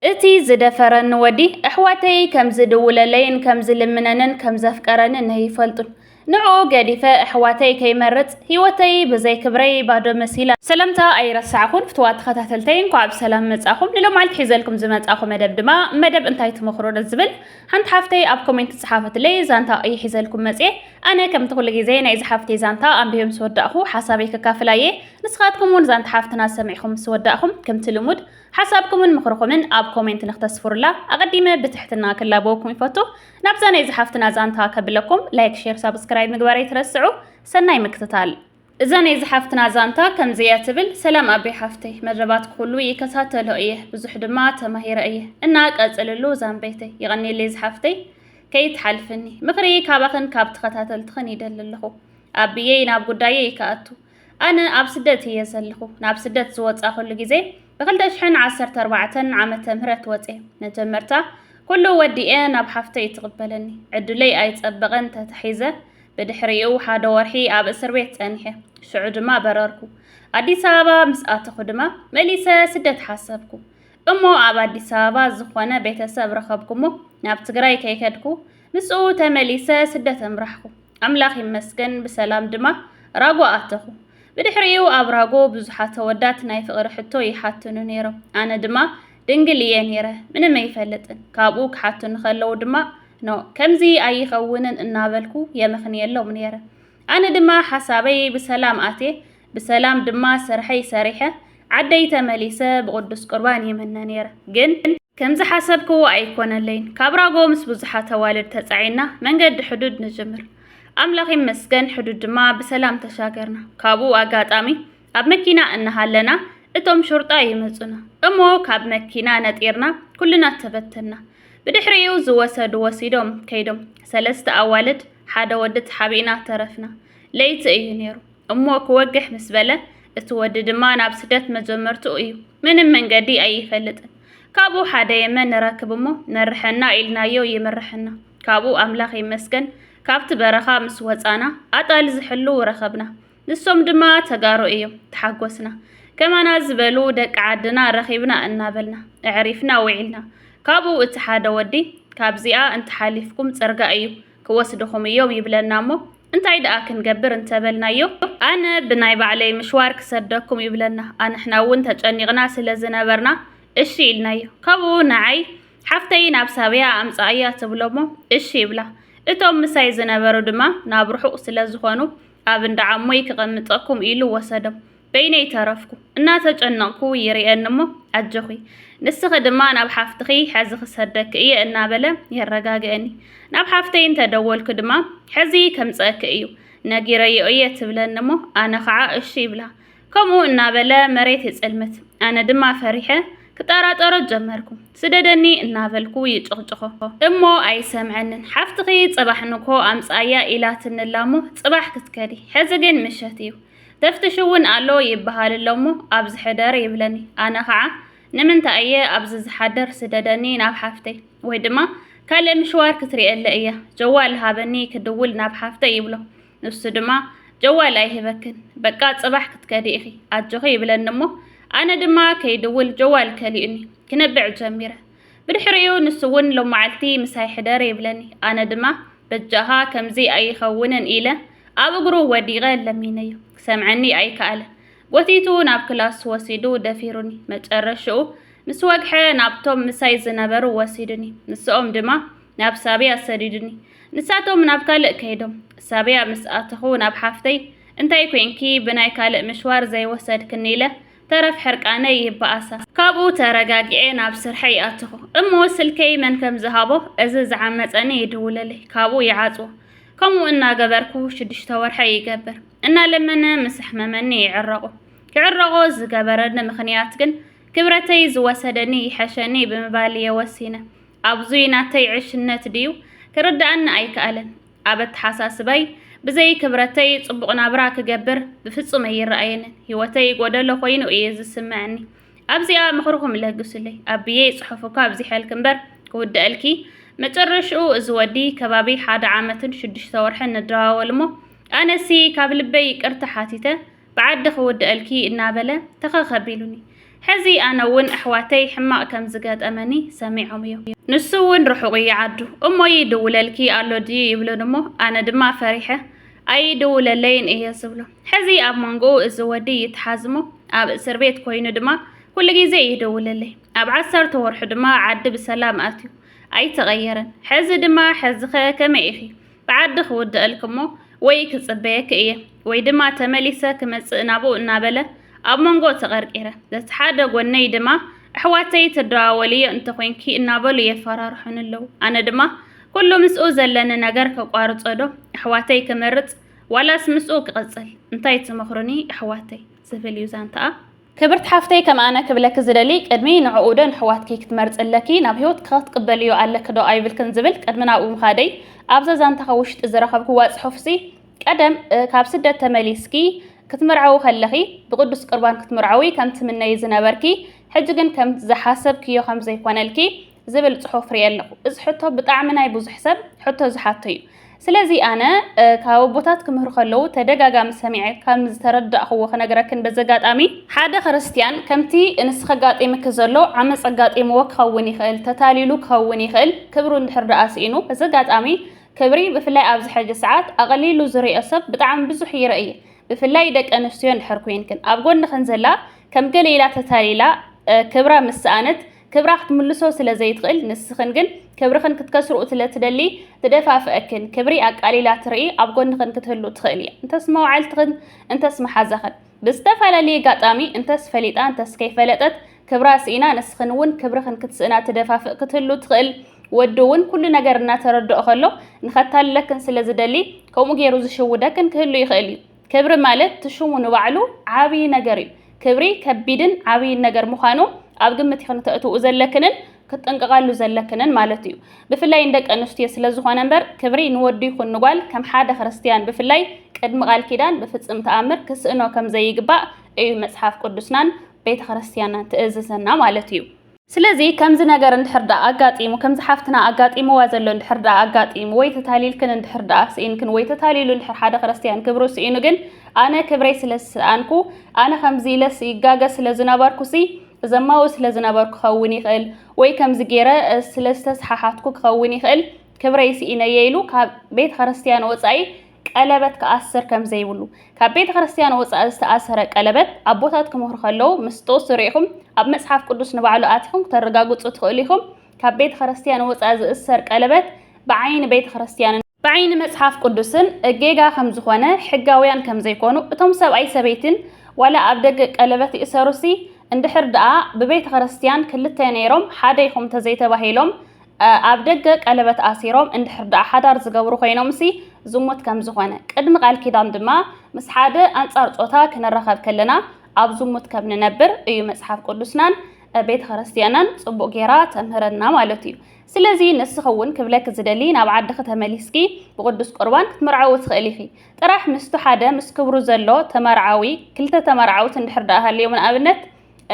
እቲ ዝደፈረኒ ወዲ ኣሕዋተይይ ከም ዝድውለለይን ከም ዝልምነንን ከም ዘፍቀረንን ኣይፈልጡን። ንዕኡ ገዲፈ ኣሕዋተይ ከይመርጽ ህይወተይይ ብዘይ ክብረይይ ባዶ መሲላ። ሰላምታ ኣይረሳዕኹን ፍቱዋት ተኸታተልተይ እንኳዕ ብሰላም መጻኹም። ንሎምዓልቲ ሒዘልኩም ዝመጻኹ መደብ ድማ መደብ እንታይ ትመኽሩ ንዝብል ሓንቲ ሓፍተይ ኣብ ኮሜንት ዝጸሓፈትለይ ዛንታ እየ ሒዘልኩም መጽየ። ኣነ ከምቲ ኩሉ ግዜ ናይዚ ሓፍተይ ዛንታ ኣንቢበ ምስ ወዳእኹ ሓሳበይ ከካፍላ እየ። ንስኻትኩም እውን ዛንታ ሓፍትና ሰሚዕኹም ምስ ወዳእኹም ከምቲ ልሙድ ሓሳብኩምን ምኽርኹምን ኣብ ኮሜንት ንክተስፍሩላ ኣቐዲመ ብትሕትና ክላበወኩም ይፈቱ። ናብዛ ናይ ዝሓፍትና ዛንታ ከብለኩም ላይክ ሼር ሳብስክራይብ ምግባር ኣይትረስዑ። ሰናይ ምክትታል። እዛ ናይ ዝሓፍትና ዛንታ ከምዚ እያ ትብል፣ ሰላም ኣቤ ሓፍተይ መድረባትኪ ኩሉ ይከታተሎ እየ ብዙሕ ድማ ተማሂረ እየ እና ቀፅልሉ ዛንበይተይ የቀንየለይ ዝሓፍተይ ከይትሓልፍኒ ምክሪ ካባክን ካብ ተከታተልትክን ይደሊ ኣለኩ ኣቢየይ ናብ ጉዳየይ ክኣቱ ኣነ ኣብ ስደት እየ ዘለኹ። ናብ ስደት ዝወጻኹሉ ግዜ ብክልተ ሽሕን ዓሰርተ ኣርባዕተን ዓመተ ምህረት ወጽየ። መጀመርታ ኩሉ ወዲኤ ናብ ሓፍተይ እትቕበለኒ። ዕድለይ ኣይጸበቐን ተታሒዘ። ብድሕሪኡ ሓደ ወርሒ ኣብ እስር ቤት ጸኒሐ። ሽዑ ድማ በረርኩ። ኣዲስ ኣበባ ምስ ኣተኹ ድማ መሊሰ ስደት ሓሰብኩ። እሞ ኣብ ኣዲስ ኣበባ ዝኾነ ቤተሰብ ረኸብኩሞ ናብ ትግራይ ከይከድኩ ንስኡ ተመሊሰ ስደት ኣምራሕኩ። ኣምላኽ ይመስገን ብሰላም ድማ ራጎ ኣተኹ። ብድሕሪኡ ኣብ ራጎ ብዙሓት ኣወዳት ናይ ፍቕሪ ሕቶ ይሓቱኒ ነይሮም። ኣነ ድማ ድንግል እየ ነይረ። ምንም ኣይፈልጥን። ካብኡ ክሓቱኒ ከለዉ ድማ ኖእ! ከምዚ ኣይኸውንን እናበልኩ የመኽንየሎም ነይረ። ኣነ ድማ ሓሳበይ ብሰላም ኣትየ ብሰላም ድማ ስርሐይ ሰሪሐ ዓደይ ተመሊሰ ብቅዱስ ቁርባን ይምነ ነይረ ግን ከምዚ ሓሰብክዎ ኣይኮነለይን ካብ ራጎ ምስ ብዙሓት ኣዋልድ ተጻዒና መንገዲ ሕዱድ ንጅምር ኣምላኽ ይመስገን ሕዱድ ድማ ብሰላም ተሻገርና ካብኡ ኣጋጣሚ ኣብ መኪና እናሃለና እቶም ሹርጣ ይመጹና እሞ ካብ መኪና ነጢርና ኩልና ተበተና ብድሕሪኡ ዝወሰዱ ወሲዶም ከይዶም ሰለስተ ኣዋልድ ሓደ ወዲ ተሓቢእና ተረፍና ለይቲ እዩ ነይሩ እሞ ክወግሕ ምስ በለ እቲ ወዲ ድማ ናብ ስደት መጀመርትኡ እዩ ምንም መንገዲ ኣይፈልጥን ካብኡ ሓደ የመ ንረክብ እሞ መርሐና ኢልናዮ ይምርሐና ካብኡ ኣምላኽ ይመስገን ካብቲ በረኻ ምስ ወጻና ኣጣል ዝሕልው ረኸብና ንሶም ድማ ተጋሩ እዮም ተሓጎስና ከማና ዝበሉ ደቂ ዓድና ረኺብና እናበልና ኣዕሪፍና ውዒልና ካብኡ እቲ ሓደ ወዲ ካብዚኣ እንተሓሊፍኩም ጽርጋ እዩ ክወስድኹም እዮም ይብለና እሞ እንታይ ደኣ ክንገብር እንተበልናዮ ኣነ ብናይ ባዕለይ ምሽዋር ክሰደኩም ይብለና ኣንሕና እውን ተጨኒቕና ስለ ዝነበርና እሺ ኢልናዮ ካብኡ ንዓይ ሓፍተይ ናብ ሳብያ ኣምፀኣያ ትብሎሞ እሺ ይብላ እቶም ምሳይ ዝነበሩ ድማ ናብ ርሑቕ ስለ ዝኾኑ ኣብ እንዳ ዓሞይ ክቐምጠኩም ኢሉ ወሰዶም በይነይ ተረፍኩ። እናተጨነቕኩ ይርእየኒ እሞ ኣጆኺ ንስኺ ድማ ናብ ሓፍትኺ ሕዚ ክሰደኪ እየ እናበለ የረጋግእኒ። ናብ ሓፍተይ እንተደወልኩ ድማ ሕዚ ከምፀእኪ እዩ ነጊረዮ እየ ትብለኒ እሞ ኣነ ከዓ እሺ ይብላ። ከምኡ እናበለ መሬት ይፅልምት። ኣነ ድማ ፈሪሐ ክጠራጠሮ ጀመርኩ። ስደደኒ እናበልኩ ይጭቕጭኾ እሞ ኣይሰምዐንን። ሓፍትኺ ፅባሕ ንግሆ ኣምፅኣያ ኢላትኒ ኣላ እሞ ፅባሕ ክትከዲ ሕዚ ግን ምሸት እዩ። ተፍትሹ እውን ኣሎ ይብሃል እሎ'ሞ ኣብዚ ሕደር ይብለኒ ኣነ ኸዓ ንምንታይ እየ ኣብዚ ዝሓድር ስደደኒ ናብ ሓፍተይ ወይ ድማ ካልእ ምሽዋር ክትሪኤለይ እያ ጀዋል ሃበኒ ክድውል ናብ ሓፍተይ ይብሎ ንሱ ድማ ጀዋል ኣይህበክን በቃ ጽባሕ ክትከዲ ኢኺ ኣጆኺ ይብለኒ እሞ ኣነ ድማ ከይድውል ጀዋል ከሊኡኒ ክነብዕ ጀሚረ ብድሕሪኡ ንሱ'ውን ሎምዓልቲ ምሳይ ሕደር ይብለኒ። ኣነ ድማ በጃኻ ከምዚ ኣይኸውንን ኢለ ኣብ እግሩ ወዲቐ ለሚነዮ። ክሰምዐኒ ኣይከኣለን። ጎቲቱ ናብ ክላሱ ወሲዱ ደፊሩኒ። መጨረሽኡ ምስ ወግሐ ናብቶም ምሳይ ዝነበሩ ወሲዱኒ። ንሶኦም ድማ ናብ ሳብያ ሰዲዱኒ። ንሳቶም ናብ ካልእ ከይዶም። ሳብያ ምስ ኣተኹ ናብ ሓፍተይ እንታይ ኮንኪ ብናይ ካልእ ምሽዋር ዘይወሰድክኒ ኢለ ተረፍ ሕርቃነይ ይበኣሳ። ካብኡ ተረጋጊዐ ናብ ስርሐይ ኣተኹ። እሞ ስልከይ መን ከም ዝሃቦ እዚ ዝዓመጸኒ ይድውለለይ ካብኡ ይዓጽዎ። ከምኡ እናገበርኩ ሽዱሽተ ወርሐይ ይገብር። እናለመነ ምስ ኣሕመመኒ ይዕረቑ። ክዕረቖ ዝገበረኒ ምኽንያት ግን ክብረተይ ዝወሰደኒ ይሐሸኒ ብምባል እየ ወሲነ። ኣብዙይ ናተይ ዕሽነት ድዩ ክርደኣኒ ኣይከኣለን። ኣብ ኣተሓሳስበይ ብዘይ ክብረተይ ጽቡቕ ናብራ ክገብር ብፍጹም ኣይረኣየንን። ህይወተይ ጎደሎ ኮይኑ እየ ዝስምዐኒ። ኣብዚኣ ምኽርኹም ለግሱለይ። ኣቢየይ ጽሑፉካ ኣብዚሐልኪ እምበር ክውደኣልኪ መጨረሽኡ እዚ ወዲ ከባቢ ሓደ ዓመትን ሽዱሽተ ወርሕን ንደዋወል እሞ ኣነሲ ካብ ልበይ ይቅርታ ሓቲተ ብዓዲ ክውድኣልኪ እናበለ ተኸኽ ኣቢሉኒ። ሕዚ ኣነ እውን ኣሕዋተይ ሕማቕ ከም ዝገጠመኒ ሰሚዖም እዮም። ንሱ እውን ርሑቕ እዩ ዓዱ። እሞ ይድውለልኪ ኣሎ ድዩ ይብሉኒ እሞ ኣነ ድማ ፈሪሐ ኣይድውለለይን እየ ዝብሎ። ሕዚ ኣብ መንጎኡ እዚ ወዲ ይትሓዝ እሞ ኣብ እስር ቤት ኮይኑ ድማ ኩሉ ግዜ ይድውለለይ። ኣብ ዓሰርተ ወርሑ ድማ ዓዲ ብሰላም ኣትዩ። ኣይተቐየረን። ሕዚ ድማ ሕዚኸ ከመይ ኢኺ? ብዓዲ ክውድኣልኪ እሞ ወይ ክጽበየኪ እየ ወይ ድማ ተመሊሰ ክመጽእ ናብኡ እናበለ ኣብ መንጎ ተቐርቂረ። በቲ ሓደ ጎነይ ድማ ኣሕዋተይ ትደዋወልዮ እንተኾይንኪ እናበሉ የፈራርሑኒ ኣለው። ኣነ ድማ ኩሉ ምስኡ ዘለኒ ነገር ከቋርጾ ዶ ኣሕዋተይ ክመርጽ ዋላስ ምስኡ ክቕጽል እንታይ ትመኽሩኒ ኣሕዋተይ? ዝብል እዩ ዛንታኣ። ክብርቲ ሓፍተይ ከም ኣነ ክብለኪ ዝደሊ ቅድሚ ንዕኡ ዶ ንሕዋትኪ ክትመርጺ ኣለኪ ናብ ሂወትኪ ከትቅበልዮ ኣለኪ ዶ ኣይብልክን ዝብል ቅድሚ ናብኡ ምካደይ ኣብዛ ዛንታኪ ውሽጢ ዝረከብክዋ ጽሑፍሲ ቀደም ካብ ስደት ተመሊስኪ ክትምርዐዊ ከለኪ ብቅዱስ ቅርባን ክትምርዐዊ ከምትምነዪ ዝነበርኪ ሕጂ ግን ከምቲ ዝሓሰብክዮ ከምዘይኮነልኪ ዝብል ጽሑፍ ርየ ኣለኹ። እዚ ሕቶ ብጣዕሚ ናይ ብዙሕ ሰብ ሕቶ ዝሓቶ እዩ። ስለዚ ኣነ ካብ ኣቦታት ክምህሩ ከለዉ ተደጋጋሚ ሰሚዐ ከም ዝተረዳእኽዎ ክነግረክን በዚ ኣጋጣሚ ሓደ ክርስትያን ከምቲ ንስኺ ኣጋጢምኪ ዘሎ ዓመጽ ኣጋጢምዎ ክኸውን ይኽእል፣ ተታሊሉ ክኸውን ይኽእል፣ ክብሩ እንድሕር ደኣ ስኢኑ፣ በዚ ኣጋጣሚ ክብሪ ብፍላይ ኣብዚ ሕጂ ሰዓት ኣቐሊሉ ዝሪኦ ሰብ ብጣዕሚ ብዙሕ ይርኢ እየ። ብፍላይ ደቂ ኣንስትዮ እንድሕር ኮይንክን ኣብ ጎንኽን ዘላ ከም ገለ ኢላ ተታሊላ ክብራ ምስ ሰኣነት ክብራ ክትምልሶ ስለ ዘይትኽእል፣ ንስኽን ግን ክብርኽን ክትከስርኡ ስለ ትደሊ ትደፋፍኣክን። ክብሪ ኣቃሊላ ትርኢ፣ ኣብ ጎንኽን ክትህሉ ትኽእል እያ። እንተስ መዋዕልትኽን እንተስ መሓዛኽን። ብዝተፈላለየ ኣጋጣሚ፣ እንተስ ፈሊጣ እንተስ ከይፈለጠት፣ ክብራ ስኢና ንስኽን እውን ክብርኽን ክትስእና ትደፋፍእ ክትህሉ ትኽእል። ወዲ እውን ኩሉ ነገር እናተረድኦ ከሎ ንኸታልለክን ስለ ዝደሊ ከምኡ ገይሩ ዝሽውደክን ክህሉ ይኽእል እዩ። ክብሪ ማለት እቲ ሽሙ ንባዕሉ ዓብዪ ነገር እዩ። ክብሪ ከቢድን ዓብዪን ነገር ምዃኑ ኣብ ግምት ኢኽን እተእትውኡ ዘለክንን ክትጥንቀቓሉ ዘለክንን ማለት እዩ። ብፍላይ ንደቂ ኣንስትዮ ስለ ዝኾነ እምበር ክብሪ ንወዲ ይኹን ንጓል ከም ሓደ ክርስትያን ብፍላይ ቅድሚ ቃል ኪዳን ብፍጽም ተኣምር ክስእኖ ከም ዘይግባእ እዩ መጽሓፍ ቅዱስናን ቤተ ክርስትያንናን ትእዝዘና ማለት እዩ። ስለዚ ከምዚ ነገር እንድሕር ድኣ ኣጋጢሙ ከምዚ ሓፍትና ኣጋጢምዋ ዘሎ እንድሕር ድኣ ኣጋጢሙ ወይ ተታሊልክን እንድሕር ድኣ ስኢንክን ወይ ተታሊሉ እንድሕር ሓደ ክርስትያን ክብሩ ስኢኑ ግን ኣነ ክብረይ ስለ ዝሰኣንኩ ኣነ ከምዚ ኢለስ ይጋገ ስለ ዝነበርኩሲ ዘማዊ ስለ ዝነበርኩ ክኸውን ይኽእል ወይ ከምዚ ገይረ ስለ ዝተሰሓሓትኩ ክኸውን ይኽእል ክብረይ ስኢነየ ኢሉ ካብ ቤተ ክርስትያን ወጻኢ ቀለበት ክኣስር ከም ዘይብሉ። ካብ ቤተ ክርስትያን ወጻኢ ዝተኣሰረ ቀለበት ኣቦታት ክምህሩ ከለዉ ምስ ትወስዱ ርኢኹም ኣብ መጽሓፍ ቅዱስ ንባዕሉ ኣቲኹም ክተረጋግጹ ትኽእሉ ኢኹም። ካብ ቤተ ክርስትያን ወጻኢ ዝእሰር ቀለበት ብዓይኒ ቤተ ክርስትያንን ብዓይኒ መጽሓፍ ቅዱስን ጌጋ ከም ዝኾነ፣ ሕጋውያን ከም ዘይኮኑ፣ እቶም ሰብኣይ ሰበይትን ዋላ ኣብ ደገ ቀለበት ይእሰሩሲ እንድሕር ደኣ ብቤተ ክርስትያን ክልተ ነይሮም ሓደ ኢኹም ተዘይተባሂሎም ኣብ ደገ ቀለበት ኣሲሮም እንድሕር ደኣ ሓዳር ዝገብሩ ኮይኖምሲ ዝሙት ከም ዝኾነ፣ ቅድሚ ቃል ኪዳን ድማ ምስ ሓደ ኣንጻር ጾታ ክንራኸብ ከለና ኣብ ዝሙት ከም ንነብር እዩ መጽሓፍ ቅዱስናን ቤተ ክርስትያናን ጽቡቕ ጌራ ተምህረና ማለት እዩ። ስለዚ ንስኺ እውን ክብለኪ ዝደሊ ናብ ዓድኺ ተመሊስኪ ብቅዱስ ቁርባን ክትምርዓዊ ትኽእሊ ኢኺ። ጥራሕ ምስቱ ሓደ ምስ ክብሩ ዘሎ ተመርዓዊ ክልተ ተመርዓውቲ እንድሕር ደኣ ሃልዮም ንኣብነት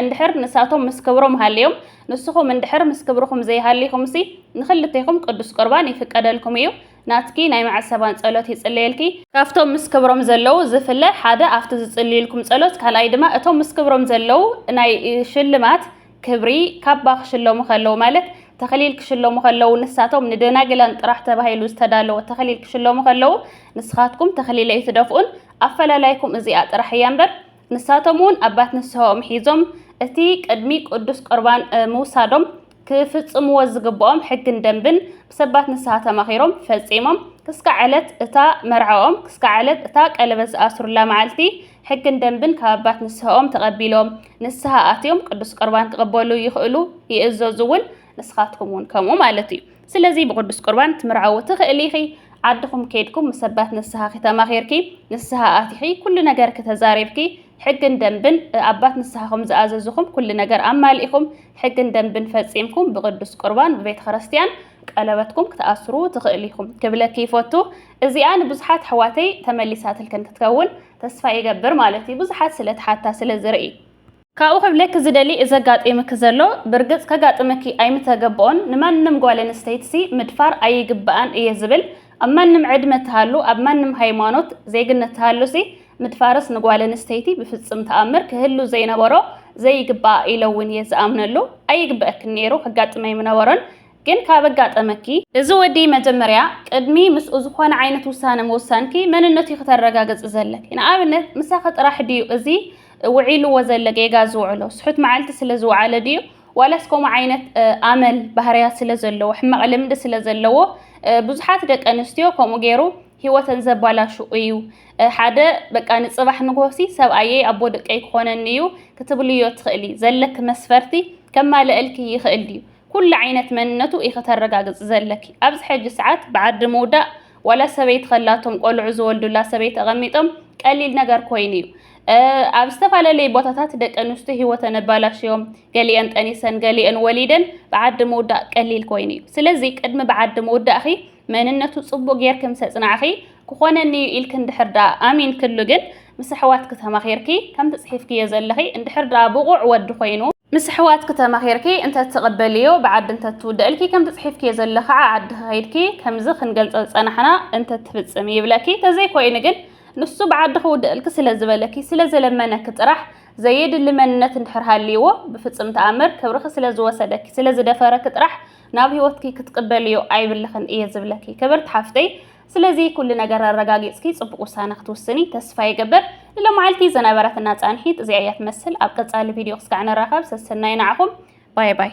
እንድሕር ንሳቶም ምስ ክብሮም ሃልዮም ንስኹም እንድሕር ምስ ክብርኹም ዘይሃሊኹምሲ ንኽልቴኹም ቅዱስ ቁርባን ይፍቀደልኩም እዩ። ናትኪ ናይ መዓሰባን ጸሎት ይጽለየልኪ። ካብቶም ምስ ክብሮም ዘለዉ ዝፍለ ሓደ ኣብቲ ዝጽልዩልኩም ጸሎት ካልኣይ ድማ እቶም ምስ ክብሮም ዘለዉ ናይ ሽልማት፣ ክብሪ፣ ካባ ክሽለሙ ከለዉ ማለት ተኽሊል ክሽለሙ ከለዉ ንሳቶም ንደናግላን ጥራሕ ተባሂሉ ዝተዳለወ ተኽሊል ክሽለሙ ከለዉ ንስኻትኩም ተኽሊል ኣይትደፍኡን ኣፈላላይኩም እዚኣ ጥራሕ እያ እምበር ንሳቶም እውን ኣባት ንስሐኦም ሒዞም እቲ ቅድሚ ቅዱስ ቁርባን ምውሳዶም ክፍጽምዎ ዝግብኦም ሕግን ደንብን ብሰባት ንስሓ ተማኺሮም ፈጺሞም ክስካዕ ዕለት እታ መርዓኦም ክስካዕ ዕለት እታ ቀለበት ዝኣስሩላ መዓልቲ ሕግን ደንብን ካብ ኣባት ንስሐኦም ተቐቢሎም ንስሓ ኣትዮም ቅዱስ ቁርባን ክቕበሉ ይኽእሉ ይእዘዙ እውን ንስኻትኩም እውን ከምኡ ማለት እዩ ስለዚ ብቅዱስ ቁርባን ትምርዓዊ ትኽእሊ ኢኺ ዓድኹም ከይድኩም ምስ ኣባት ንስሃኺ ተማኺርኪ ንስሃ ኣቲኺ ኩሉ ነገር ክተዛሪብኪ ሕግን ደንብን ኣባት ንስሃኹም ዝኣዘዝኹም ኩሉ ነገር ኣማሊእኹም ሕግን ደንብን ፈጺምኩም ብቅዱስ ቁርባን ብቤተ ክርስቲያን ቀለበትኩም ክትኣስሩ ትኽእሉ ኢኹም ክብለኪ ይፈቱ እዚኣ ንብዙሓት ኣሕዋተይ ተመሊሳትልክን ክትከውን ተስፋ ይገብር ማለት እዩ ብዙሓት ስለ ትሓታ ስለ ዝርኢ ካብኡ ክብለኪ ዝደሊ እዚ ኣጋጢምኪ ዘሎ ብርግጽ ከጋጥመኪ ኣይምተገብኦን ንማንም ጓል ኣንስተይቲሲ ምድፋር ኣይግብኣን እየ ዝብል ኣብ ማንም ዕድመ ትሃሉ ኣብ ማንም ሃይማኖት ዜግነት ትሃሉሲ ምድፋርስ ንጓል ኣንስተይቲ ብፍጽም ተኣምር ክህሉ ዘይነበሮ ዘይግብኣ ኢለውን እየ ዝኣምነሉ ኣይግብኣክን ኔሩ ከጋጥመይ ምነበሮን ግን ካብ ኣጋጠመኪ፣ እዚ ወዲ መጀመርያ ቅድሚ ምስኡ ዝኾነ ዓይነት ውሳነ ምውሳንኪ መንነቱ'ዩ ክተረጋግጺ ዘለኪ። ንኣብነት ምሳኺ ጥራሕ ድዩ እዚ ውዒሉዎ ዘሎ ጌጋ ዝውዕሎ፣ ስሑት መዓልቲ ስለ ዝወዓለ ድዩ ዋላስ ከምኡ ዓይነት ኣመል፣ ባህርያት፣ ስለ ዘለዎ፣ ሕማቕ ልምዲ ስለ ዘለዎ፣ ብዙሓት ደቂ ኣንስትዮ ከምኡ ጌሩ ሂወተን ዘባላሹ'ዩ፣ ሓደ በቃ ንጽባሕ ንግሆ'ሲ ሰብኣየይ ኣቦ ደቀይ ክኾነኒ'ዩ ክትብልዮ ትኽእሊ፣ ዘለኪ መስፈርቲ ከማልእልኪ ይኽእል ድዩ? ኩሉ ዓይነት መንነቱ ኢኺ ተረጋግጺ ዘለኪ ኣብዚ ሕጂ ሰዓት ብዓዲ ምውዳእ ዋላ ሰበይቲ ከላቶም ቆልዑ ዝወልዱላ ሰበይቲ ኣቐሚጦም ቀሊል ነገር ኮይኑ እዩ ኣብ ዝተፈላለየ ቦታታት ደቂ ኣንስትዮ ሂወተን ኣባላሽዮም ገሊአን ጠኒሰን ገሊአን ወሊደን ብዓዲ ምውዳእ ቀሊል ኮይኑ እዩ ስለዚ ቅድሚ ብዓዲ ምውዳእኺ መንነቱ ፅቡቅ ጌርኪ ምስ ኣፅናዕኺ ክኾነኒ እዩ ኢልክን ድሕር ደኣ ኣሚንክሉ ግን ምስ ኣሕዋትኪ ተማኺርኪ ከምቲ ጽሒፍክዮ ዘለኺ እንድሕር ድኣ ብቑዕ ወዲ ኮይኑ። ምስ ኣሕዋትኪ ተማኺርኪ እንተ ትቕበልዮ ብዓዲ እንተ ትውደእልኪ ከምቲ ጽሒፍክዮ ዘለኺ ዓዓ ዓድኺ ከይድኪ ከምዚ ክንገልጾ ዝጸናሕና እንተ ትፍጽሚ ይብለኪ ተዘይ ኮይኑ ግን ንሱ ብዓዲ ክውደእልኪ ስለ ዝበለኪ ስለ ዘለመነኪ ጥራሕ ዘየድሊ መንነት እንድሕር ሃልይዎ ብፍጽም ተኣምር ክብርኺ ስለ ዝወሰደኪ ስለ ዝደፈረኪ ጥራሕ ናብ ሂወትኪ ክትቕበልዮ ኣይብልኽን እየ ዝብለኪ ክብርቲ ሓፍተይ ስለዚ ኩሉ ነገር ኣረጋጊጽኪ ጽቡቅ ውሳነ ክትውስኒ ተስፋ ይገብር። ንሎማዓልቲ ዝነበረትና ጻንሒት እዚኣ እያ ትመስል ኣብ ቀጻሊ ቪድዮ ክስካዕ ንራኸብ ሰሰናዩ ንዓኹም ባይ ባይ።